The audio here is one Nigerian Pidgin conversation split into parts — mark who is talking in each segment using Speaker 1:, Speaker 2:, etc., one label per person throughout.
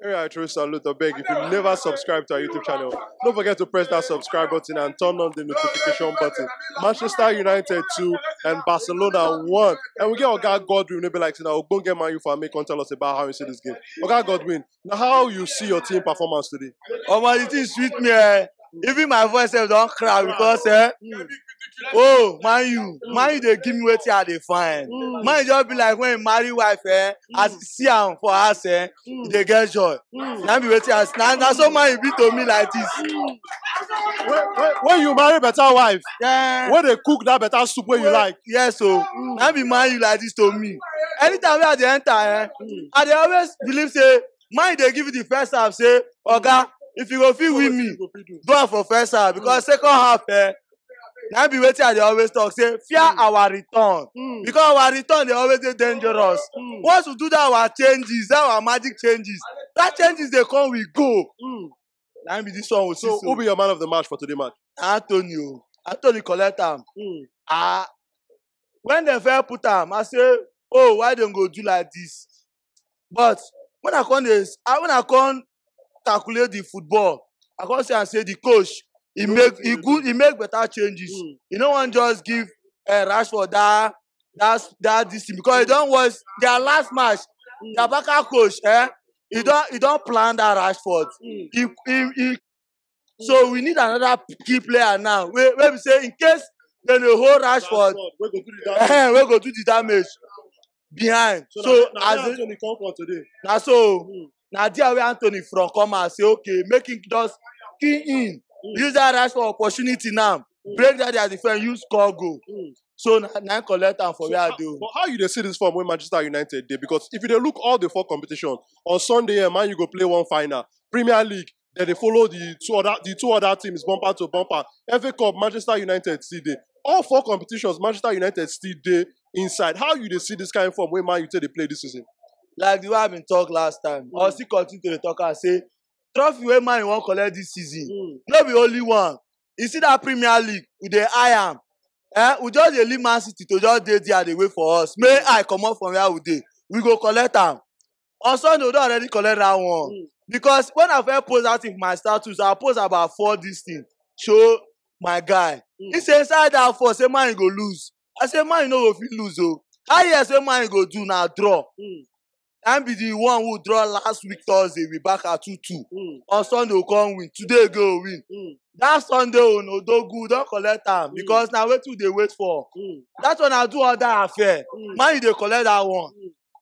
Speaker 1: Hey, I truly salute or beg if you never subscribe to our YouTube channel. Don't forget to press that subscribe button and turn on the notification button. Manchester United 2 and Barcelona 1. And we get Oga Godwin, maybe like, now, go get Man U for me, come tell us about how you see this game. Oga Godwin, now how you see your team performance today? Oh, man, it is
Speaker 2: sweet, man. even my voice sef don crack because eh Mm. oh man you man you dey give me wetin i dey find Mm. man you just be like when you marry wife eh as you see am for house eh you Mm. dey get joy Mm. na be wetin i na na so man you be to me like this. Mm. When, when,
Speaker 1: when you marry better wife, Yeah. when they cook
Speaker 2: that better
Speaker 1: soup where you like. yes o Mm. na
Speaker 2: be man you like this to me anytime wey i dey enter eh Mm. i dey always believe say mind dey give you the first half say oga if you go fit win me do am for first half because second half eh na be wetin i dey always talk say fear mm. our return mm. because our return dey always dey dangerous mm. once we do that our changes that our magic changes that changes dey come we go mm. na be this one we so, so who be your man of the match for
Speaker 1: today match anthony o
Speaker 2: anthony collect am mm. ah when dem first put am i say oh why dem go do like this but when I come dey I when I come calculate the football I come see am say the coach he No make he wetin good he make better changes Mm. he no wan just give uh, Rashford that that that this thing because he don watch their last match Mm. their backup coach eh he Mm. don he don plan that Rashford Mm. he he he So we need another key player now. Wey wey be say in case dem dey hold Rashford, Rashford wey go do the damage. eh, wey go do the damage behind. So, So, na, na as where in, Anthony come from today.
Speaker 1: na so Mm.
Speaker 2: na there wey Anthony from come out say okay make him just key in Mm. use that Rashford opportunity now Mm. break that their defence use score goal. Mm. So na na him collect am for So where I how, dey. o. but how you dey see this form wey
Speaker 1: Manchester United dey? Because if you dey look all the four competition on Sunday, eh, Man U go play one final. Premier League, Then they follow the two other the two other teams bumper to bumper. FA Cup, Manchester United still there. All four competitions, Manchester United still there inside. How you they see this kind of form when Man United they play this season? Like the way I been
Speaker 2: talk last time, mm. I still continue to the talk and say trophy wey Man U wan collect this season, mm. no be only one. You see that Premier League, we dey eye am. Eh, we just dey leave Man City to just dey there dey wait for us. May I comot from where we dey, we go collect am. on Sunday we don already collect that one mm. because when I first post that thing for my status I post about four this thing show my guy mm. he say inside that four say man you go lose I say man you no go fit lose o oh. how you hear say man you go do na draw mm. I be the one who draw last week Thursday we back at two two mm. on Sunday we come win today go win mm. that Sunday o oh, no do good don collect am mm. because na wetin we dey wait for mm. that one I do other affair mm. man you dey collect that one. Mm.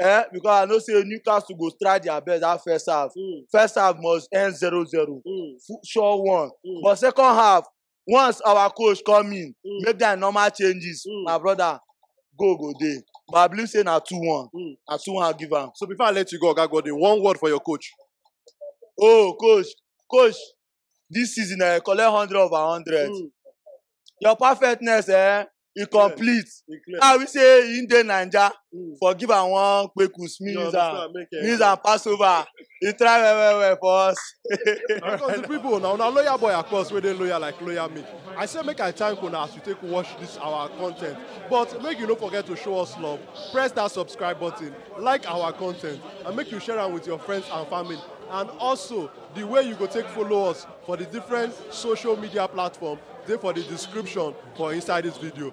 Speaker 2: Eh, because I know say Newcastle go try their best that first half. Mm. First half must end 0-0. Mm. Fu- Sure one. Mm. But second half, once our coach come in, Mm. make their normal changes, Mm. my brother, go go dey. But I believe say na 2-1. Mm. Na 2-1 I give am. So before I let you go, Oga
Speaker 1: Godwin, one word for your coach. Oh,
Speaker 2: coach, coach, this season eh, collect hundred over hundred. Mm. Your perfectness eh, e complete. E clear. Now we say he dey Naija Mm. for give am one kpeku You sneeze and understand? Make it. sneeze and pass over. He try well well well for us. Because the
Speaker 1: people now, now loyal boy across where they loyal like loyal me. I say make I thank una as you take watch this our content. But make you no forget to show us love. Press that subscribe button, like our content, and make you share am with your friends and family. And also The way you go take follow us for the different social media platform dey for the description for inside this video.